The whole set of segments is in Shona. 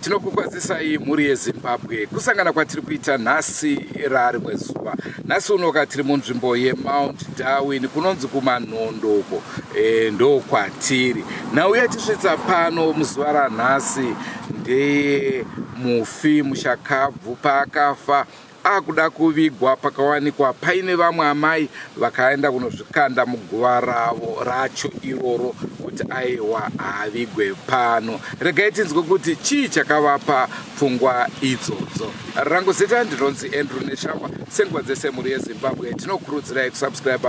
tinokukwazisai mhuri yezimbabwe kusangana kwatiri kuita nhasi raari kwezuva nhasi unoka tiri munzvimbo yemount darwin kunonzi kumanhondo uko e, ndokwatiri nhau yatisvitsa pano muzuva ranhasi ndeye mufi mushakabvu paakafa akuda kuvigwa pakawanikwa paine vamwe amai vakaenda kunozvikanda muguva ravo racho iroro kuti aiwa haavigwe pano regai tinzwe kuti chii chakavapa pfungwa idzodzo rangu zita ndinonzi andrew neshamba senguva dzese mhuri yezimbabwe tinokurudzirai kusubscribe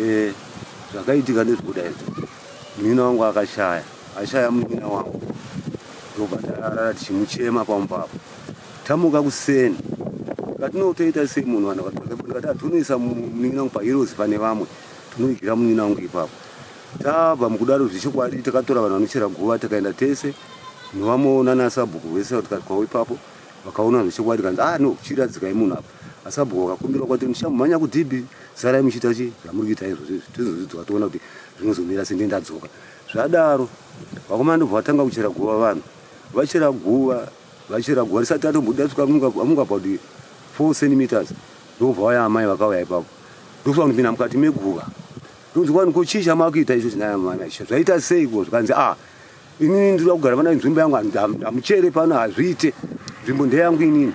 eh, zvakaitika ndezvokuda izvo munin'ina wangu akashaya ashaya munin'ina wangu ndobva tarara tichimuchema pamupapo tamuka kuseni katinotoita sei munhu vanhu vakatikati hatonoisa ah, munin'ina wangu pahirozi pane vamwe tinoigira munin'ina wangu ipapo tabva mukudaro zvechokwadi takatora vanhu vanochera guva takaenda tese novamwe nanasabhuku vese vatikati kwavo ipapo vakaona zvechokwadi kanzi ah no chiradzikai munhu apa asabhuku akakumbira kwati muchamhanya kudhibhi sarai muchiita chi zvamuri kuita izvozvo izvi tizozvidzwa toona kuti zvinozomira sende ndadzoka zvadaro vakomana ndobva vatanga kuchera guva vanhu vachera guva vachera guva risati atombuda svika amunga about four centimeters ndokubva vaya amai vakauya ipapo ndokufa kunopinda mukati meguva ndonzi kwani ko chii chamakuita icho chinaya mwana icho zvaita seiko zvikanzi ah inini ndiri kugara vana nzvimbo yangu hamuchere pano hazviite nzvimbo ndeyangu inini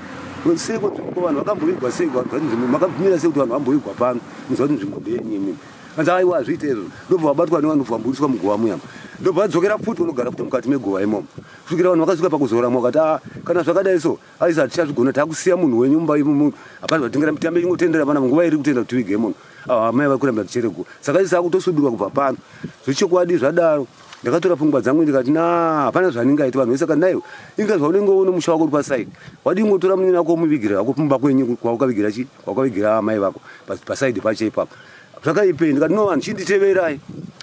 seiko nzvimbo vanhu vakamboigwa seiko nzvimbo makabvumira sekuti vanhu vamboigwa pano muziva kuti nzvimbo ndeyenyu inini anzi aiwa hazviite izvo ndobva vabatwa nevanhu bva vamboiswa muguva muyama ndobva vadzokera futi vanogara futi mukati meguva imomo kusvikira vanhu vakasvika pakuzoramwa vakati a ah, kana zvakadai so aisa hatichazvigona takusiya munhu wenyu mumba imumu hapana zvatengera mitambo ingotendera vana nguva iri kutenda kuti tivige munhu ah, amai vari kuramba ticherego saka isa akutosudurwa kubva pano zvechokwadi zvadaro ndakatora pfungwa dzangu ndikati na hapana zvandingaiti vanhu vese kati naiwe inga zvaunenge uno musha wako uri paside wadii ngotora munyini wako womuvigirira wako kumba kwenyu kwaukavigira chi kwaukavigira amai vako paside pacho ipapo zvakaipei ndikati no vanhu chinditeverai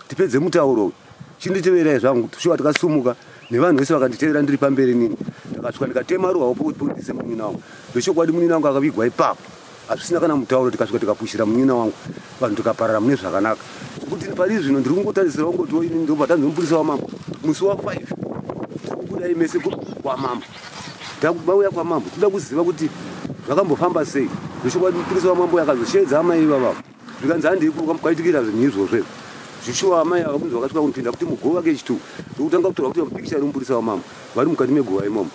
tipedze mutauro uyu chinditeverai zvangu shuwa takasumuka nevanhu vese vakanditevera ndiri pamberi nini ndakasvika ndikatema ruwa wopo kuti pundise munyini wangu zvechokwadi munyini wangu akavigwa ipapo hazvisina kana mutauro tikasvika tikapushira munyina wangu vanhu tikaparara mune zvakanaka zvekuti pari zvino ndiri kungotarisira kungotiwo ini ndobva tanzomupurisa wamambo musi wafive tiri kubudai mese kwamambo takubauya kwamambo toda kuziva kuti zvakambofamba sei zvechokwadi mupurisa wamambo yakazosheedza amai ivavavo zvikanzi handii kwaitikira zvinhu izvozvo izvo zvishuwa amai ava kunzi vakasvika kunopinda kuti muguva kechi two ndokutanga kutorwa kuti mapikicha ari muburitsa wamambo vari mukati meguva imomo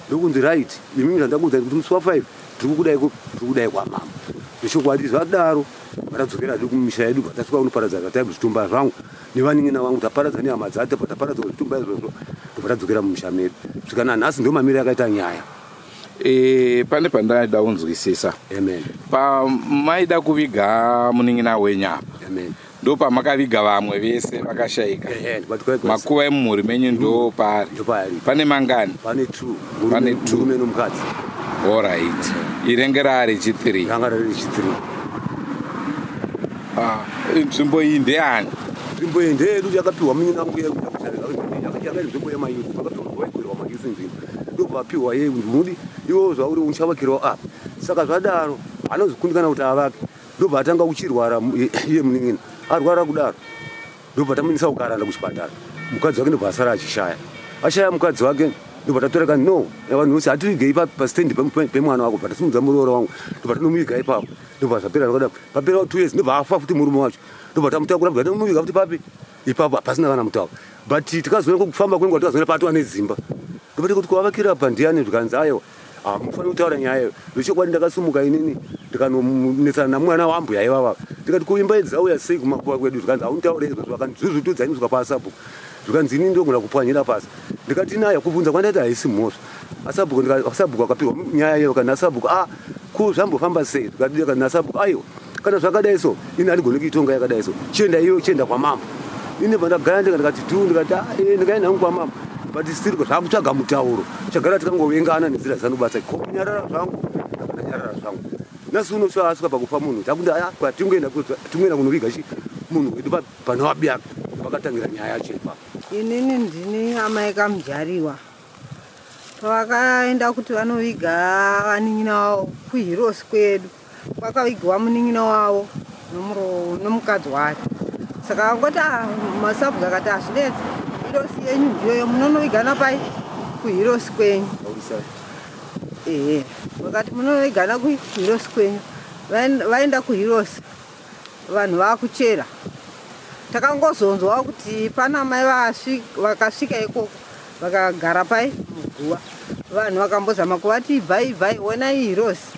ndokunzi right imimi zvandakuudza kuti musi wa five tiri kukudai kupi tiri kudai kwamambo zvechokwadi zvadaro vatadzokera zve kumisha yedu bvatasvika kunoparadza zvataibu zvitumba zvangu nevanin'ina vangu taparadza nehama dzacho bvataparadza zvitumba izvozvo bvatadzokera mumisha medu svikana nhasi ndomamiro yakaita nyaya E, pane pandaida kunzwisisa pamaida kuviga munin'ina wenyu apa ndopamakaviga vamwe vese vakashaika makuva emumhuri menyu ndo paari pane mangani pane tmukadzi orit irenge raari chithree ah, nzvimbo iyi ndeyani nzvimbo iyi ndeyedu yakapiwa munin'ina wangu yekuainzvimbo yemayu akapiwa waigurwa mayusi nzvimbo ndokuvapihwa yei unodi iwo zvauri uchavakirwa apa saka zvadaro anozokundikana kuti avake ndobva atanga kuchirwara iye munin'ina arwara kudaro ndobva tamuendesa kukaranda kuchipatara mukadzi wake ndobva asara achishaya ashaya mukadzi wake ndobva tatoreka no vanhu vose hativigei pastand pemwana wako bva tasimudza muroora wangu ndobva tinomuviga ipapo ndobva zvapera zvakadaro papera two years ndobva afa futi murume wacho ndobva tamutakura bva tinomuviga futi papi ipapo hapasina kana mutauro but tikazoona kufamba kwenguva tikazoona patova nedzimba ndobati kuti kuvavakira apa ndiani zvikanzi ayewa hamufaniri kutaura nyaya iyo zvechokwadi ndakasumuka inini ndikanonetsana namwana wambuya ivava ndikati kuimba idzi auya sei kumakuva kwedu zvikanzi haunitaure izvozvo akandizvuzvutudza iniswa pasabhuku zvikanzi inini ndogona kupwanyira pasi ndikati naye kubvunza kwandaita haisi mhosva asabhuku asabhuku wakapihwa nyaya iyo kana asabhuku a ah, ko zvambofamba sei zvikadii kana asabhuku aiwa kana zvakadai so ini andigoni kuitonga yakadai so chienda iyo chienda kwamama ini pandagara ndika ndikati tu ndikati ah, eh, ndikaenda hangu kwamama but still zvakutsvaga mutauro chagara tikangovengana nenzira dzanobasa ko kunyarara zvangu ndakanyarara zvangu nasi uno soasvika pakufa munhu takuti aya ah, tingoenda tingoenda kunoviga chi munhu wedu panovabiaka pakatangira nyaya yacho ipapo inini ndini amai kamjariwa pavakaenda kuti vanoviga vanin'ina wavo kuhirosi kwedu kwakavigwa munin'ina wavo nomukadzi wake saka vakoti ah, masabhuku akati hazvinetsi ah, hirosi yenyu ndiyoyo munonovigana pai kuhirosi kwenyu ehe vakati munonovigana kuhirosi kwenyu vaenda kuhirosi vanhu vakuchera takangozonzwa kuti pana mai vakasvika ikoko vakagara pai muguva vanhu vakambozama kuvati ibvai ibvai wonai hirosi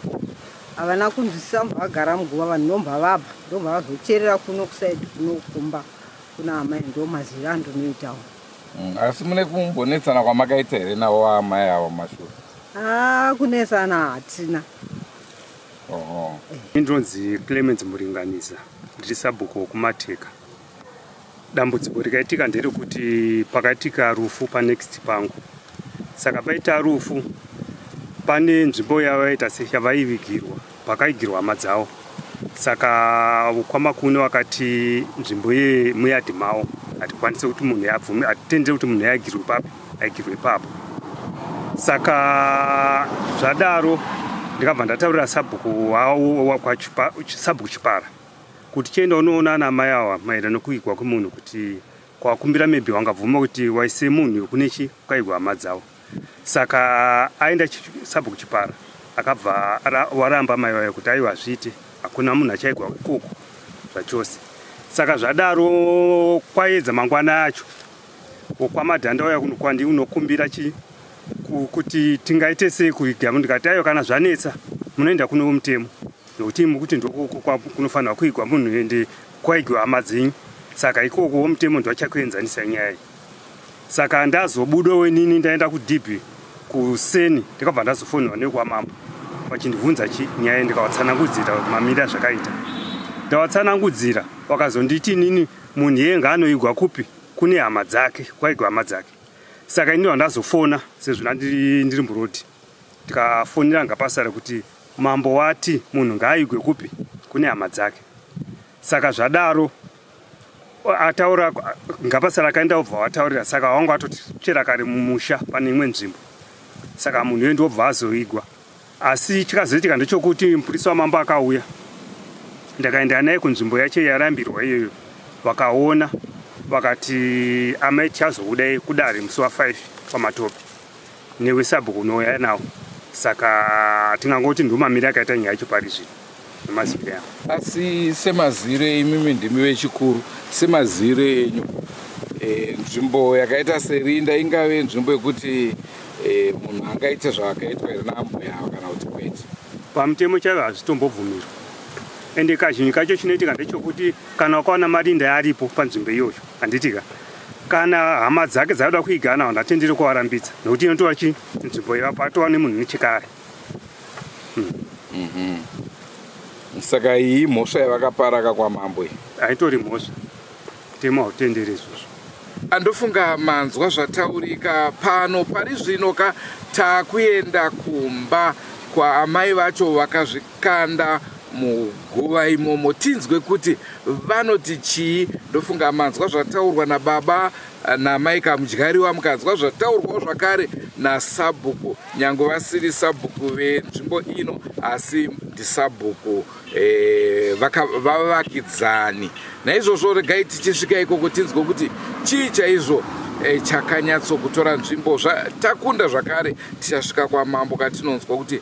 havana kunzwisisa mbavagara muguva vanhu ndomba vabva ndomba vazocherera kuno kusaidi kunokumba kuna amai ndo mazivi andonoitawo mm, asi mune kumbonetsana kwamakaita here navo amai avo mashura haa ah, kunetsana hatina Oho. Ini ndinonzi Clemens Muringanisa ndiri sabhuku wokumateka. Dambudziko rikaitika nderekuti pakaitika rufu panext pangu. Saka paita rufu pane nzvimbo yavaita seyavaivigirwa pakaigirwa hama dzavo. Saka kwamakune wakati nzvimbo yemuyadhi mavo hatikwanise kuti munhu abvume hatitendere kuti munhu yaigirwe papi. like ipapo saka zvadaro ndikabva ndataurira sabhuku wawo sabhuku chipara kuti chienda unoona ana mai awa maererano kuigwa kwemunhu kuti kwakumbira maybe wangabvuma kuti waise munhu yokune chi kwaigwa hama dzavo saka aenda sabhuku chipara akabva waramba mai wayo kuti aiwa zviite hakuna munhu achaigwa ikoko zvachose saka zvadaro kwaedza mangwana acho wokwamadhanda wauya kuno kwandi unokumbira chi kuti tingaite sei kuiga ndikati aiwa kana zvanetsa munoenda kuno vomutemo nokuti mukuti ndokunofanirwa kuigwa munhu ende kwaigwa hama dzenyu saka ikoko womutemo ndiwachakuenzanisa nyaya iyi saka ndazobuda wenini ndaenda kudhibhi kuseni ndikabva ndazofonirwa nekwamambo vachindibvunza chi nyaya ndikawatsanangudzira mamiri azvakaita ndawatsanangudzira wakazonditi nini Munhu iye ngaanoigwa kupi kune hama dzake kwaigwa hama dzake saka ini ndandazofona sezvo ndandiri ndiri murodi ndikafonera ngapasara kuti mambo wati munhu ngaaigwe kupi kune hama dzake saka zvadaro ataura ngapasara akaenda obva wataurira saka wanga atoti chera kare mumusha pane imwe nzvimbo saka munhu uyo ndiobva azoigwa Asi chikazoitika ndechokuti mupurisa wamambo akauya, ndakaenda naye kunzvimbo yacho yarambirwa iyoyo, vakaona vakati amai tichazoudai kudare musi wa5 kwamatope newe sabhuku unouya nawo, saka tingangoti ndumamiri akaita nyaya yacho pari zvino. nemazire avo asi semazire imimi ndimi vechikuru semazire enyu e, nzvimbo yakaita serinda ingave nzvimbo yekuti e, munhu angaite zvaakaitwa here naambuya avo kana kuti kwete pamutemo chaivo hazvitombobvumirwa ende kazhinji kacho chinoitika ndechokuti kana wakawana marinda yaaripo panzvimbo iyoyo handitika kana hama dzake dzaida kuigana vanhu atendere kuvarambidza nokuti inotoa chi nzvimbo yevapatowa nemunhu nechekare Mhm. saka iyi mhosva yavakaparaka kwamambo iyi haitori mhosva kutema hautendere izvozvo andofunga manzwa zvataurika pano pari zvino ka takuenda kumba kwaamai vacho vakazvi kanda muguva imomo tinzwe kuti vanoti chii ndofunga manzwa zvataurwa nababa eh, namai kamudyariwa mukanzwa zvataurwawo zvakare nasabhuku nyange vasiri sabhuku venzvimbo ino asi ndisabhuku eh, vavakidzani naizvozvo regai tichisvika ikoko tinzwe kuti chii chaizvo eh, chakanyatsokutora nzvimbo zvatakunda zvakare tichasvika kwamambo katinonzwa kuti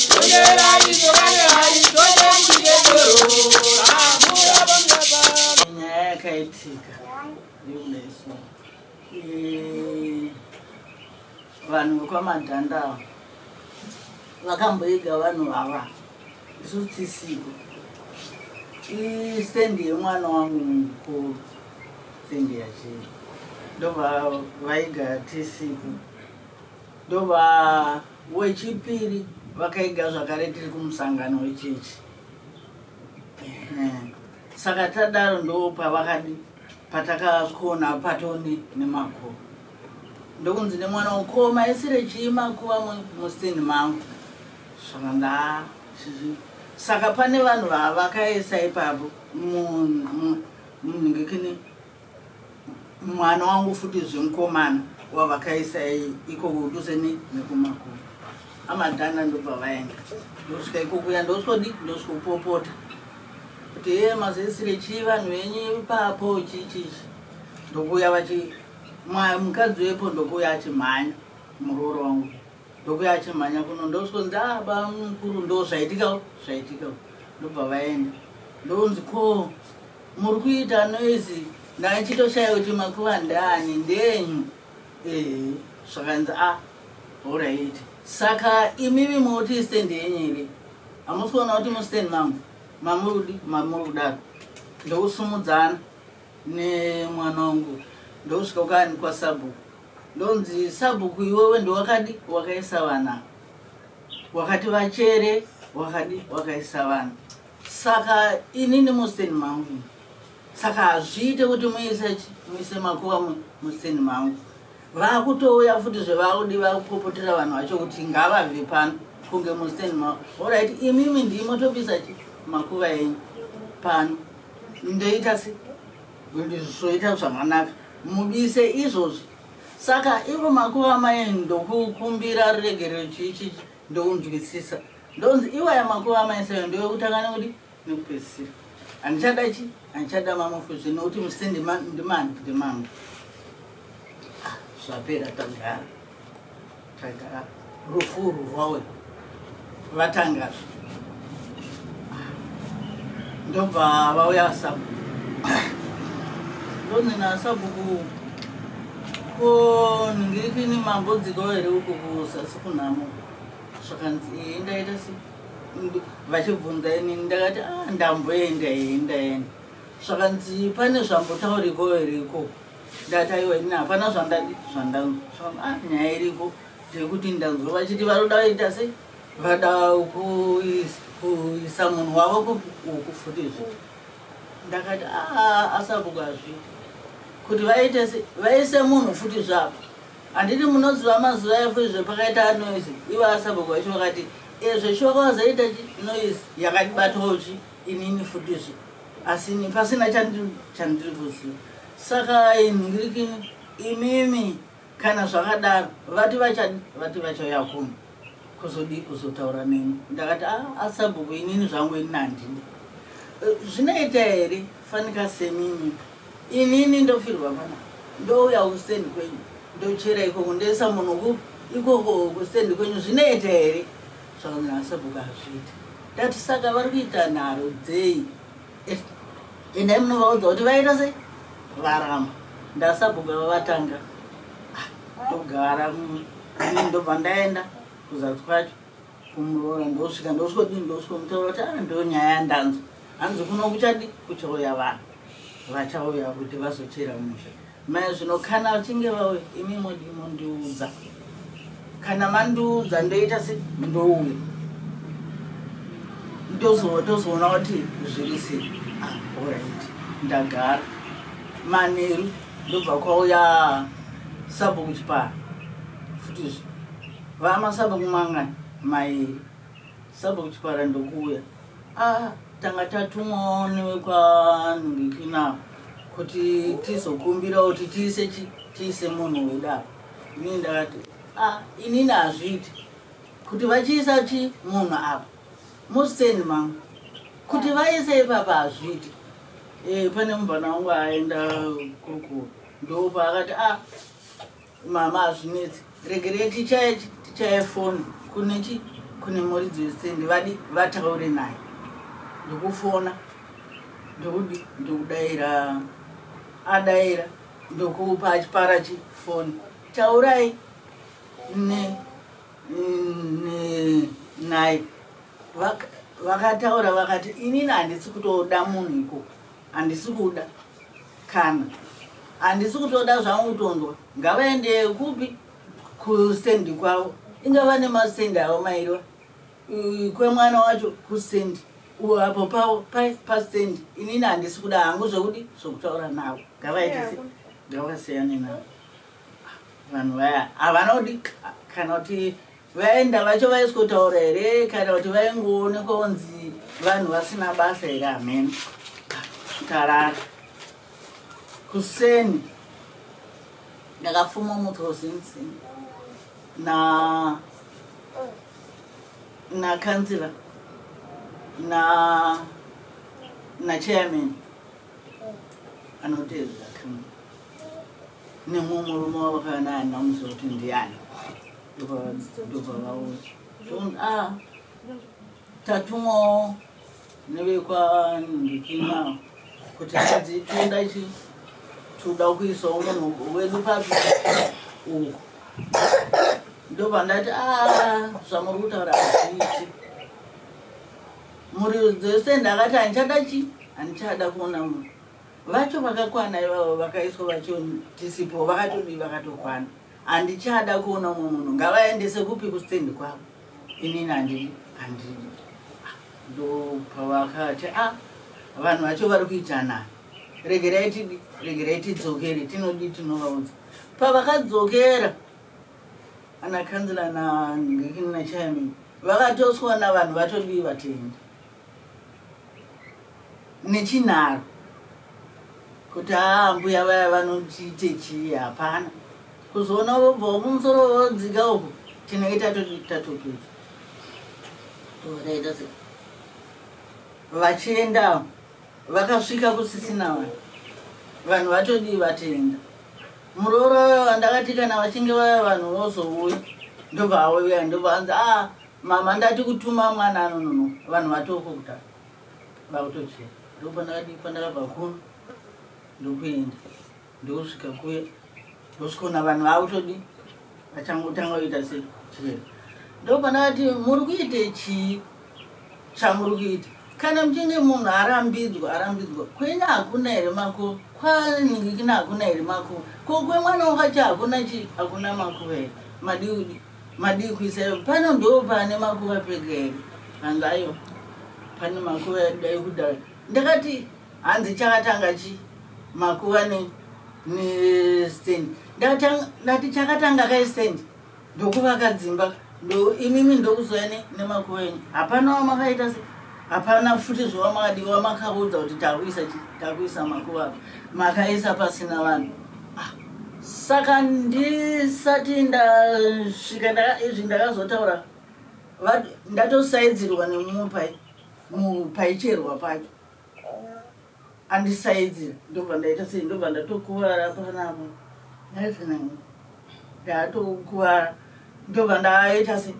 vanhu vekwamadhanda ava vakamboiga vanhu vava isu tisiko istendi yemwana wangu mukuru stendi yachii ndovaiga tisiko Ndova wechipiri vakaiga zvakare tiri kumusangano wechechi saka tadaro ndo pavakadi patakasvikoona patoni nemakuru ndokunzi nemwana ukoma isire chii makuva mustini mangu saka ndaa saka pane vanhu vavakaisa ipapo munhu ngekini mwana wangu futi zvemukomana wavakaisa iko kuduse nekumakuru amadhana ndobva vaenda ndosvika ikokuya ndosvodi ndosvikupopota kuti ye mazesire chii vanhu venyu ipapo chichichi ndokuya vachi mukadzi wepo ndokuya achimhanya murooro wangu ndokuya achimhanya kuno ndosvo ndaba mukuru ndo zvaitika zvaitika ndobva vaenda ndonzi ko muri kuita noise ndaichitoshaya kuti makuva ndani ndenyu ee zvakanzi a ah, orit saka imimi moti stand yenyu iri hamusi kuona kuti mustand mangu mamurudi mamuri kudaro ndokusumudzana nemwana wangu ndokusvika ukani kwasabhuku ndonzi sabhuku iwewe ndowakadi wakaisa vana wakati vachere wakadi wakaisa vana saka inini musteni mangu saka hazviite kuti muise muise makuva musteni mangu vakutouya futi zvevakudi vakupopotera vanhu vacho kuti ngavabve pano kunge musteni mangu orit imimi ndimotobisa makuva enyu pano ndoita se Zvoita zvakanaka mubise izvozvi saka ivo makuva mai ndokukumbira ruregerero chii chii ndokunzwisisa ndonzi iwaya makuva amai seyo ndovekutangana kuti nekupedzisira handichada chi handichada mamufu zvino kuti musise ndimani ndimangu ah, zvapera tagara Taigara rufu urwu rwawe vatanga ndobva vauya sabu ndonina sabuku ko ndingirikini mambodzikawo here uku kuzasi kunhamo zvakanzi ee ndaita se vachibvunza ini ndakati a ah, ndamboenda ee ndaenda zvakanzi pane zvambotauriko here ikoko ndati aiwa ini hapana zvandadi zvandanzwa ah, nyaya iripo ndekuti ndanzwa vachiti vanoda vaita sei vada kuisa munhu wavo kuku futizve ndakati ah, asabuka zvi kuti vaite sei vaise munhu futi zvapo handiti munoziva mazuva efu izve pakaita anoise ivo asabuka vacho vakati ezveshoka eh, vazoita chi noise yakati batochi inini futi zvi asi ini pasina chandiri chandiri kuziva saka ai ndiriki imimi kana zvakadaro vati vacha vati vachauya kuno kuzodii kuzotaura neni ndakati "Ah, asabhuku inini zvangu ini handidi Eh, zvinoita here fanika semimi inini ndofirwa pana ndouya kustendi kwenyu ndochera ikoko ndoisa munhu ku ikoko kustendi kwenyu zvinoita here Zvaona sabhuku hazviita ndati saka vari kuita nharo dzei eh, endai munovaudza kuti vaita sei varamba ndasabhuku ava vatanga ah, togara mm, ini ndobva ndaenda kuzasi kwacho kumuroora ndosvika ndosvika kuti ndosvika mutaura kuti ah, ndonyaya yandanzwa hanzi kuno kuchadi kuchauya vanhu vachauya kuti vazochera musha mai zvino kana vachinge vauya imi mondiudza kana mandiudza ndoita se ndouya tozoona kuti zviri se ah, orit ndagara manheru ndobva kwauya sabo kuchipara futizve vamasabo kumangani mairi sabo kuchipara ndokuuya ah. tanga tatumwawo nevekwanhungikina kuti tizokumbirawo kuti tiise tiise munhu weda ini ndakati ah, inini hazviiti kuti vachiisa chi munhu apa musitendi mangu kuti vaise ipapa hazviiti e, pane mubvana wangu aenda kurukuru ndopa akati ah, Mama hazvinetsi regerei tichaye tichaye foni kune chi kune muridzi wesende vadi vataure naye ndokufona ndokudi ndokudaira adaira ndokupa achipara chi foni taurai ne naye vakataura vakati inini handisi kutoda munhu ikoko handisi kuda Kana handisi kutoda zvangu kutondwa ngavaende kupi kustendi kwavo inga vane mastendi avo mairiwa kwemwana wacho kustendi apo pavo pastendi inini handisi kuda hangu zvekudi zvekutaura navo ngavaitise ngavasiyane navo vanhu vaya havana kudi kana kuti Vaenda vacho vaisikotaura here kana kuti vaingoonekwa kunzi vanhu vasina basa here hameno tarara kuseni ndakafuma muprovince na na councilor na na chairman anotevera nemumwe murume wavakana anamusa kuti ndiani ndobva vauya ah, tatumwawo nevekwandikinao kuti hanzi toenda chi toda kuisawo munhu wedu papi uku ndobva ndati a ah, zvamuri kutaura hazviiti muri dzese ndakati handichada chi handichada kuona munhu vacho vakakwana ivavo vakaiswa vacho tisipo vakatodii vakatokwana Handichada kuona umwe munhu ngavaendese kupi kustand kwavo inini handidi handidi Ah, ndopavakati a vanhu vacho vari kuitanani regerai tidi regerai tidzokere tinodii tinovaudza pavakadzokera ana kanzila na ndikini na chairman vakatoswa na vanhu vatodii vatendi nechinharo kuti aa mbuya vaya vanotiite chii hapana kuzoona vobva wokumusoro vodzika uku tinenge tatopedza vakaita se vachiendawo vakasvika kusisina vanhu vanhu vatodii vatenda muroora wandakati kana vachinge vaya vanhu vozouya ndobva auya ndobva anzi a ah, Mama ndati kutuma mwana anonono vanhu vatoko kuta vakutochera ndopandakadii pandakabva kuno ndokuenda ndokusvika kuya ndosvikaona vanhu vakutodii vachangotanga kuita se chirero ndopandakati muri kuite chii chamuri kuita kana muchinge munhu arambidzwa arambidzwa kwenye hakuna here mako kwanikina hakuna here mako kokwemwana wakachi hakuna chii hakuna makuva here madiudi Madii kuisa iyo pano ndoo pane makuva pega here? Hangayo pane makuva yadai kudai. Ndakati hanzi chakatanga chi makuva ne ne stand. Ndakatanga ndati chakatanga kai stand ndokuvaka dzimba ndo imimi ndokuzwa ne nemakuva enyu. Hapana wamakaita se Hapana futi zvawamadiwa makaudza kuti takuisa takuisa makuva makaisa pasina vanhu. Ah, saka ndisati ndasvika ndaka izvi ndakazotaura ndatosaidzirwa nemumwe pai paicherwa pacho. andisaidze ndobva ndaita sei ndobva ndatokuvara panapa ndaifanani ndatokuvara ndobva ndaita se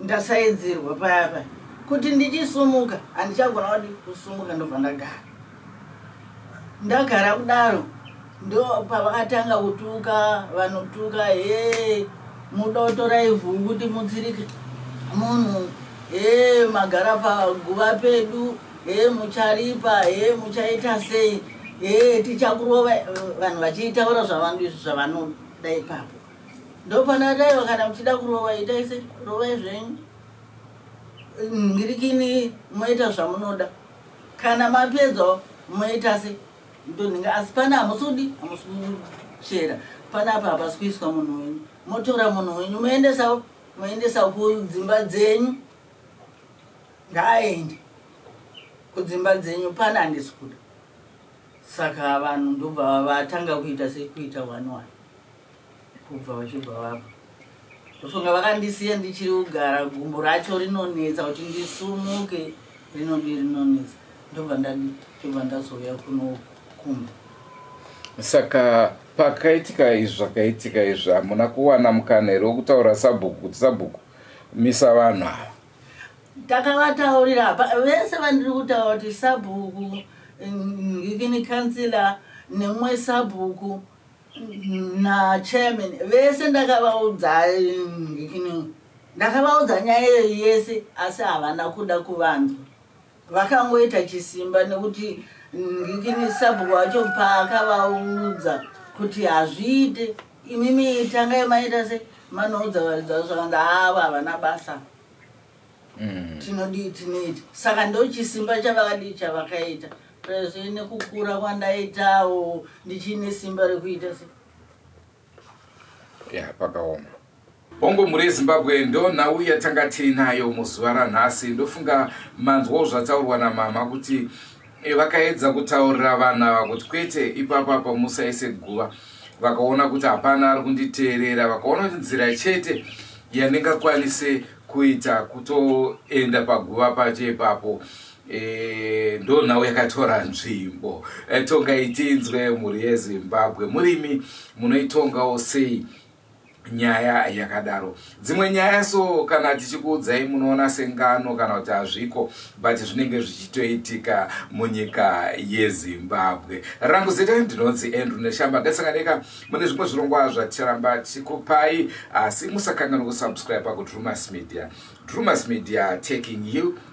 ndasaidzirwa paya paya kuti ndichisumuka handichagona kudi kusumuka ndobva ndagara ndagara kudaro Ndo pavakatanga kutuka vanotuka hee muda kutora ivhu kuti mutsirike munhu hee magara paguva pedu hee mucharipa hee muchaita sei hee tichakurova vanhu vachiitaura zvavanoda ipapo ndopana taiva kana muchida kurova itai se rovai zvenyu ngirikini moita zvamunoda kana mapedza moita se Ndonhinga asi pana hamusudi hamusimuchera pana apa hapasi kuiswa munhu wenyu motora munhu wenyu moendesa moendesa kudzimba dzenyu ngaaende kudzimba dzenyu pana handisi kuda saka vanhu ndobva vatanga kuita sekuita one one kubva vachibva vabva ndofunga vakandisiya ndichiri kugara gumbo racho rinonetsa kuti ndisumuke rinodi rinonetsa ndobva ndobva ndazouya kuno kumba saka pakaitika izvi zvakaitika izvi hamuna kuwana mukana here wokutaura sabhuku kuti sabhuku misa vanhu ava takavataurira apa vese vandiri kutaura kuti sabhuku ngikini kansila nemwe sabhuku nachairman vese ndakavaudza ndakavaudza nyaya iyo yese asi havana kuda kuvanzwa vakangoita chisimba nekuti ngikini sabhuku wacho paakavaudza kuti hazviite imimi tangai maita se manoudza varidza zvakanda avo havana basa mm. tinodii tinoita saka ndochisimba chavakadii chavakaita Pese nekukura kwandaitawo ndichine simba rekuita se. Yeah, pakaoma. Bongo mhuri yeZimbabwe ndo nhau yatanga tiinayo muzuva ranhasi ndofunga manzwawo zvataurwa namama kuti eh, vakaedza kutaurira vanhu ava kuti kwete ipapa pamusaise guva vakaona kuti hapana ari kunditeerera vakaona kuti nzira chete yandingakwanise kuita kutoenda paguva pacho ipapo Eh, ndo nhau yakatora nzvimbo eh, tongai tinzwe mhuri yezimbabwe murimi munoitongawo sei nyaya yakadaro dzimwe nyaya so kana tichikuudzai munoona sengano kana kuti hazviko but zvinenge zvichitoitika munyika yezimbabwe rangu zita ndinonzi andrew neshamba gasanganeka mune zvimwe zvirongwa zvaticharamba tichikupai asi musakanganwa kusubscribe pakuti rumas media rumas media taking you